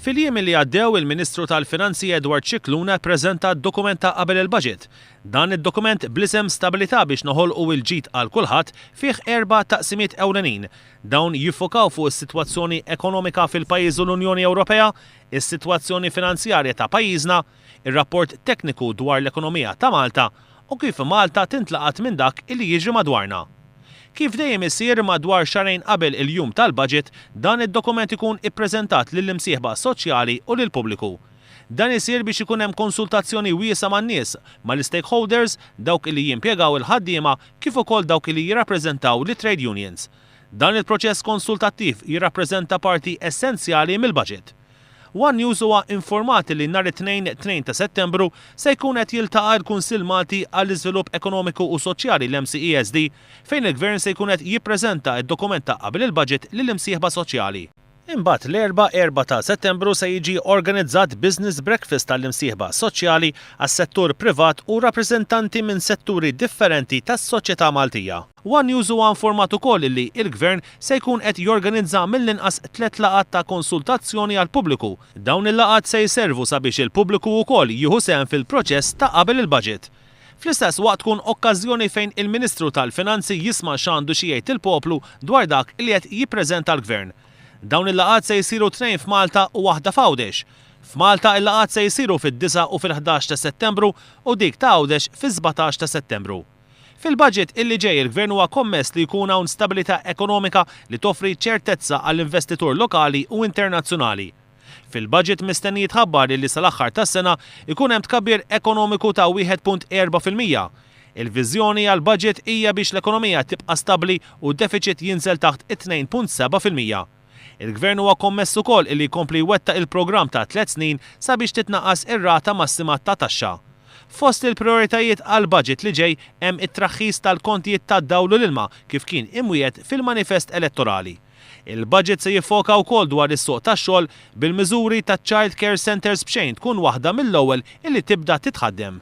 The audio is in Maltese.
Fil-jiem li għaddew, il-Ministru tal-Finanzi Edward Scicluna ppreżenta d-dokument ta' qabel il-Baġit. Dan id-dokument bl-isem Stabilità biex noħolqu il-ġid għal kulħadd fih erba' taqsimiet ewlenin. Dawn jiffokaw fuq is-sitwazzjoni ekonomika fil-pajjiż u l-Unjoni Ewropea, is-sitwazzjoni finanzjarja ta' pajjiżna, ir-rapport tekniku dwar l-ekonomija ta' Malta u kif Malta tintlaqat minn dak li jiġri madwarna. Kif dejjem isir madwar xahrejn qabel il-jum tal-Budget dan id-dokument ikun ippreżentat lill-imsieħba soċjali u lill-pubbliku. Dan isir biex ikun hemm konsultazzjoni wiesgħa man-nies, mal-istakeholders, dawk li jimpjegaw il-ħaddiema kif ukoll dawk li jirrappreżentaw lit-trade unions. Dan il-proċess konsultattiv jirrappreżenta parti essenzjali mill-Budget. One News huwa infurmat li nhar it-Tnejn, 2 ta' Settembru, se jkun qed jiltaqa' l-Kunsill Malti għall-Iżvilupp Ekonomiku u Soċjali, l-MCESD, fejn il-Gvern se jkun qed jippreżenta d-dokument ta' qabel il-Budget lill-imsieħba soċjali. Imbagħad l-Erbgħa, 4 ta' Settembru, se jiġi organizzat business breakfast għall-imsieħba soċjali, għas-settur privat u rappreżentanti minn setturi differenti tas-soċjetà Maltija. One News huwa informat ukoll li l-Gvern se jkun qed jorganizza mill-inqas tliet laqgħat ta' konsultazzjoni għall-pubbliku. Dawn il-laqgħat se jservu sabiex il-pubbliku wkoll jieħu sehem fil-proċess ta' qabel il-Budget. Fl-istess waqt tkun okkażjoni fejn il-Ministru tal-Finanzi jisma' x'għandu xi jgħid il-poplu dwar dak li qed jippreżenta l-Gvern. Dawn il-laqgħat se jsiru tnejn f'Malta u waħda f'Għawdex. F'Malta il-laqgħat se jsiru fid-disgħa u fil-ħdax ta' Settembru u dik ta' Għawdex fis-sbatax ta' Settembru. Fil-budget illi ġej il-Gvern huwa kommess li jkun hawn stabilità ekonomika li toffri ċertezza għall-investitur lokali u internazzjonali. Fil-budget mistenni jitħabbar illi sal-aħħar tas-sena jkun hemm tkabbir ekonomiku ta' wieħed punt erbgħa fil-mija. Il-viżjoni għall-budget hija biex l-ekonomija tibqa' stabbli u d-defiċit jinżel taħt it-tnejn punt seba' fil-mija. Il-Gvern huwa kommess ukoll illi jkompli jwettaq il-programm ta' tliet snin sabiex titnaqqas ir-rata massima ta' taxxa. Fost il-prijoritajiet għall-budget li ġej hemm it-traħħis tal-kontijiet tad-dawl u l-ilma kif kien imwiegħed fil-manifest elettorali. Il-budget se jiffoka wkoll dwar is-suq tax-xogħol bil-miżuri taċ-Child Care Centres b'xejn tkun waħda mill-ewwel illi tibda titħaddem.